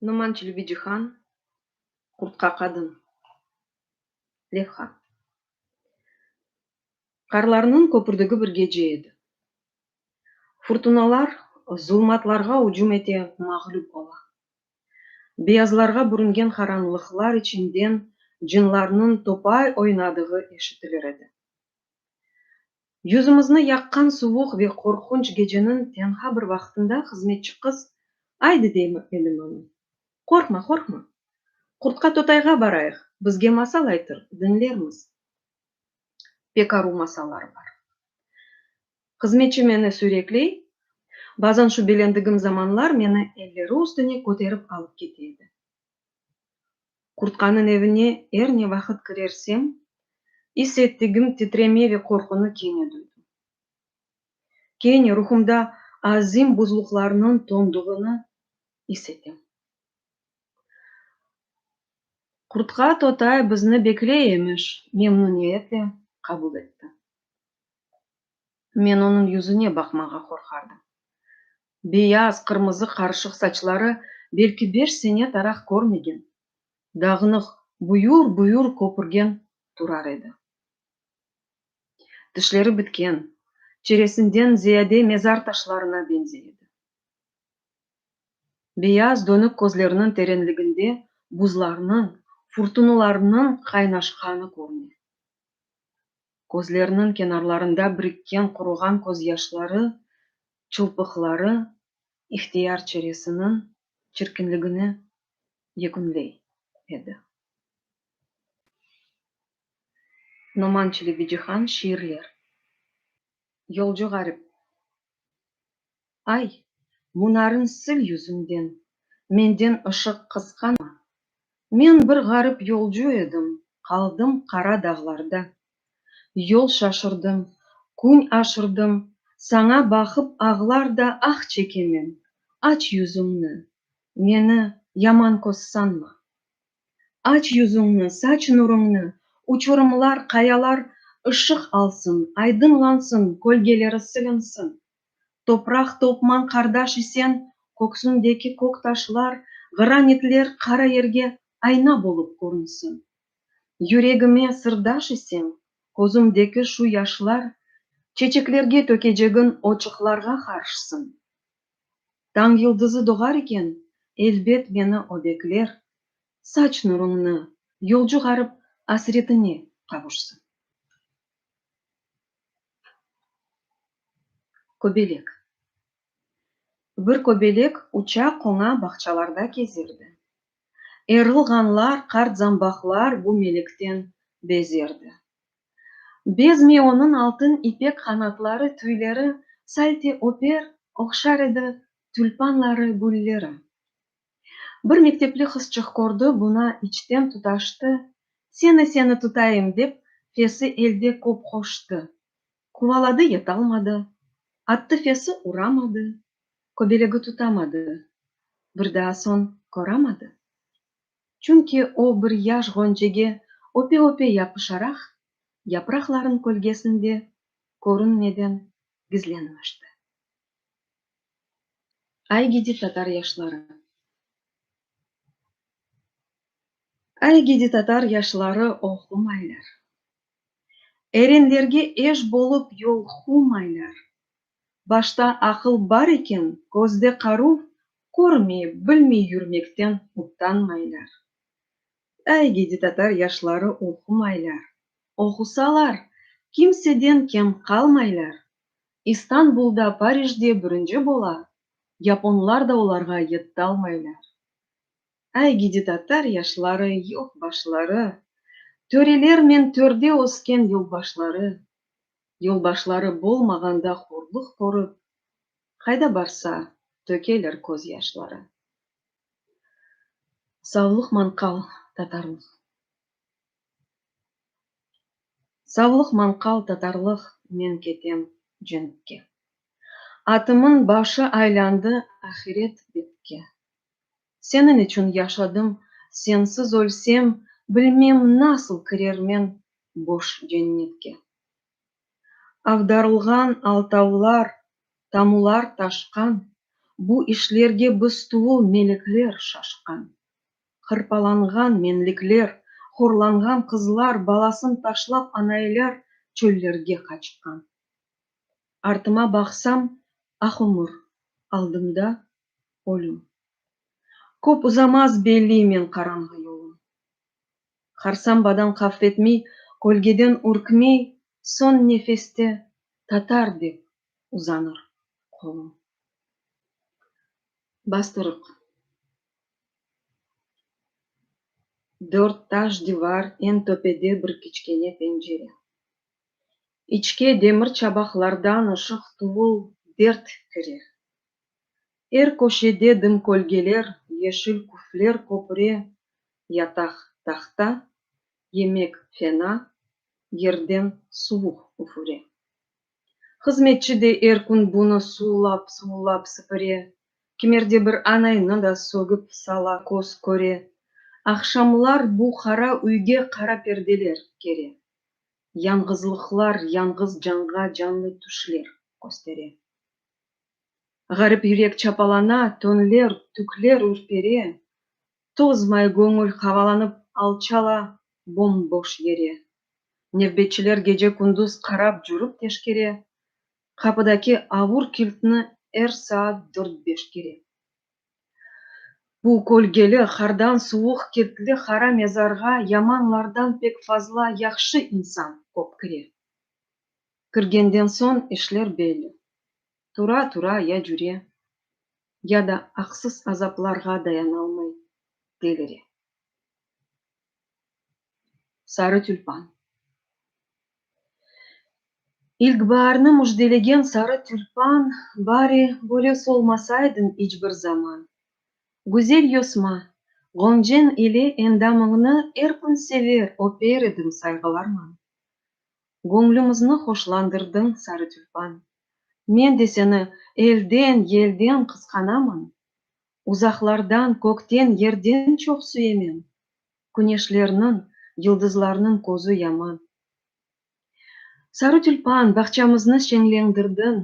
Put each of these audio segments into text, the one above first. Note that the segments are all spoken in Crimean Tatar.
Numan Çilbicihan, Qurtqa qadın. Levha. Qarlarnıñ köpürdigi bir gece edi. Furtunalar zulmatlarğa ücüm ete, mağlüp ola. Beyazlarğa bürüngen qaranlıqlar içinden cınlarnıñ topay oynadığı eşitilir edi. Yüzümizni yaqqan suvuq ve qorqunç geceniñ tenha bir vaqtında hızmetçi qız, Aydı, dey Melim ana. Qorqma, qorqma. Qurtqa Totayğa barayıq, bizge masal aytır, diñlermiz. Pek aru masallar bar. Hızmetçi meni sürekley, bazan şübelendigim zamanlar meni elleri üstüne köterip alıp kete edi. Kurtkanıñ evine er ne vaqıt kirersem, is ettigim titreme ve qorqunı kene duydım. Kene ruhumda azim buzluqlarnıñ tonduğını is etem. Kurtka totay bizni bekley emiş, memnüniyetle qabul etti. Men onıñ yüzüne baqmağa qorqardım. Beyaz, qırmızı qarışıq saçları belki beş sene taraq körmegen, dağınıq, buyur-buyur köpürgen turar edi. Tişleri bitken, çeresinden ziyade mezar taşlarına beñzey edi. Beyaz, dönük közleriniñ terenliginde buzlarnıñ, furtunalarnıñ qaynaşqanı körüne. Közleriniñ kenarlarında birikken quruğan közyaşları, çılpıqları ihtiyar çeresiniñ çirkinligini yekünley edi. Noman Çelebicihan, Şiirler. Yolcu ğarip. Ay, bunarın sil yüzüñden, menden ışıq qısqanma. Men bir ğarip yolcu edim, qaldım qara dağlarda. Yol şaşırdım, kün aşırdım, saña baqıp ağlar da ah çekemen, aç yüzüñni, meni yaman köz sanma. Aç yüzüñni, saç nuruñni, Uçurımlar, qayalar ışıq alsın, Aydınlansın, kölgeleri silinsin. Topraq, toqman qardaş isen, Köksündeki kök taşlar, Granitler qara yerge Ayna bolıp körünsin. Yüregime sırdaş isen, Közümdeki şu yaşlar, Çeçeklerge tökecegin Oçıqlarğa qarşsın. Tañ yıldızı doğar iken, elbet meni o bekler, Saç nuruñnı, yolcu ğarip asretine qavuşsın. Köbelek Bir köbelek uça-qoña bağçalarda kezerdi. Erilğanlar, qartzambaqlar bu melikten bezerdi. Bezmey onıñ altın ipek qanatları, tüyleri salte öper, oqşar edi, tülpanları, gülleri. Bir mektepli qızçıq kördi, buna içten tutaştı, Seni, seni tutayım, dep, fesi elde köp qoştı. Quvaladı, yetalmadı, attı fesi, uramadı, köbelegi tutamadı, bir daa soñ köramadı. Çünki o bir yaş ğoncege öpe-öpe yapışaraq, yapraqların kölgesinde körünmeden gizlenmişti. Ay gidi tatar yaşları. Ay gidi tatar yaşları oğqumaylar. Erenlerge eş bolıp yol humaylar. Başta aqıl bar eken, közde qaruv, körmey, bilmey yürmekten utanmaylar. Ay gidi tatar yaşları oqumaylar. Oqusalar, kimseden kem qalmaylar. İstanbulda, Parijde bürünci bola, yaponlar da olarğa yettalmaylar. Ay gidi tatar yaşları, yoq başları, Törelernen törde ösken yolbaşları, Yolbaşları bolmağanda horluq körip, Qayda barsa, tökeler köz yaşları. Savlıq manqal tatarlıq Savlıq manqal tatarlıq Men ketem cenkke Atımın başı aylandı Ahiret betke Seniñ içün yaşadım, sensiz ölsem, Bilmem, nasıl kirermen boş cennetke. Avdarılğan altavlar, tamular taşqan, Bu işlerge biz tuvul melekler şaşqan. Hırpalanğan menlikler, horlanğan qızlar Balasın taşlap anaeler çöllerge qaçqan. Artıma baqsam, ah umur, aldımda ölüm. Köp uzamaz belliymen qaranğı yolum. Harsambadan qafretmey, kölgeden ürkmey Soñ nefeste tatar dep uzanır qolum. Bastırıq. Dört taş divar, eñ töpede bir kiçkene pencere. İçke demir çabaqlardan ışıq tuvul dert kirer. Er köşede dım kölgeler, yeşil küfler köpüre, yataq tahta, yemek fena, yerden suvuq üfüre. Hızmetçi de er kün bunı suvullap-suvullap sipire, kimerde bir anaynı da sögip sala köz köre. Aqşamlar bu qara üyge qara perdeler kere, yañğızlıqlar, yañğız canğa canlı tüşler köstere. Ğarip yürek çapalana, töñler, tükler ürpere, Tozmay göñül havalanıp alçala bom-boş yere. Nevbetçiler gece-kündüz qarap cürip teşkere, Qapıdaki avur kiltni er saat dört-beş kere. Bu kölgeli, qardan suvuq kiltli qara mezarğa yamanlardan pek fazla yahşı insan kop kire. Kirgenden soñ işler belli. Tura-tura ya cüre, ya da aqsız azaplarğa dayanalmay delire. Sarı tülpan. İlkbaarnı müjdelegen sarı tülpan, bari böyle solmasaydıñ iç bir zaman. Güzel yosma, ğonceñ ile endamıñnı er kün sever, öper edim sayğılarman. Göñlümizni hoşlandırdıñ, sarı tülpan. Men de seni elden, yelden qısqanaman, Uzaqlardan, kökten, yerden çoq süyemen, Küneşlerniñ, yıldızlarnıñ közü yaman. Sarı tülpan, bağçamıznı şeñlendirdiñ,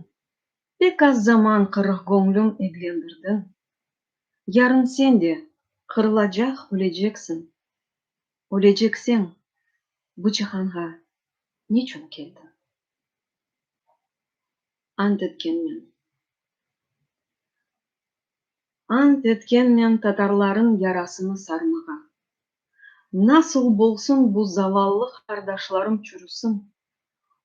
Pek az zaman qırıq göñlüm eglendirdiñ. Yarın sen de qırılacaq, öleceksin, Ölecekseń bu cihanğa niçün keldiñ? Ant etkenmen. Ant etkenmen tatarlarıñ yarasını sarmağa. Nasıl bolsun bu zavallı qardaşlarım çürüsin,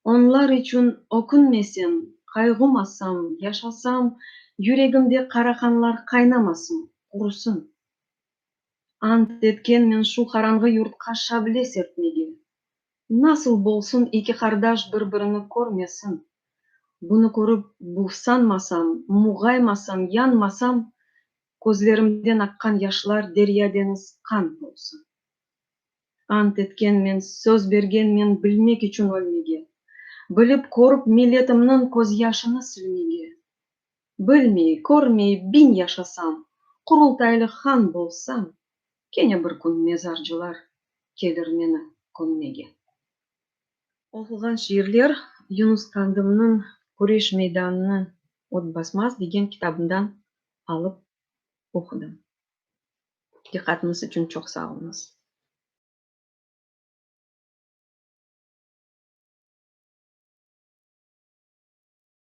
onlar içün ökünmesem, qayğumasam, yaşasam, yüregimde qara qanlar qaynamasın, qurusın. Ant etkenmen şu qaranğı yurtqa şable serpmege. Nasıl bolsun eki qardaş bir-birini körmesin. Bunı körip buvsanmasam, muğaymasam, yanmasam, közlerimden aqqan yaşlar derya-deñiz qan bolsa. Ant etkenmen, söz bergenmen bilmek içün ölmege, bilip-körip milletimniñ közyaşını silmege. Bilmey, körmey biñ yaşasam, Qurultaylı han bolsam, Kene bir kün mezarcılar Kelir meni kömmege. Oquğan şiirler, Yunus Qandımnıñ Küreş meydanını ot basmaz degen kitabından alıp oqudım. Diqqatınız içün çoq sağ oluñız.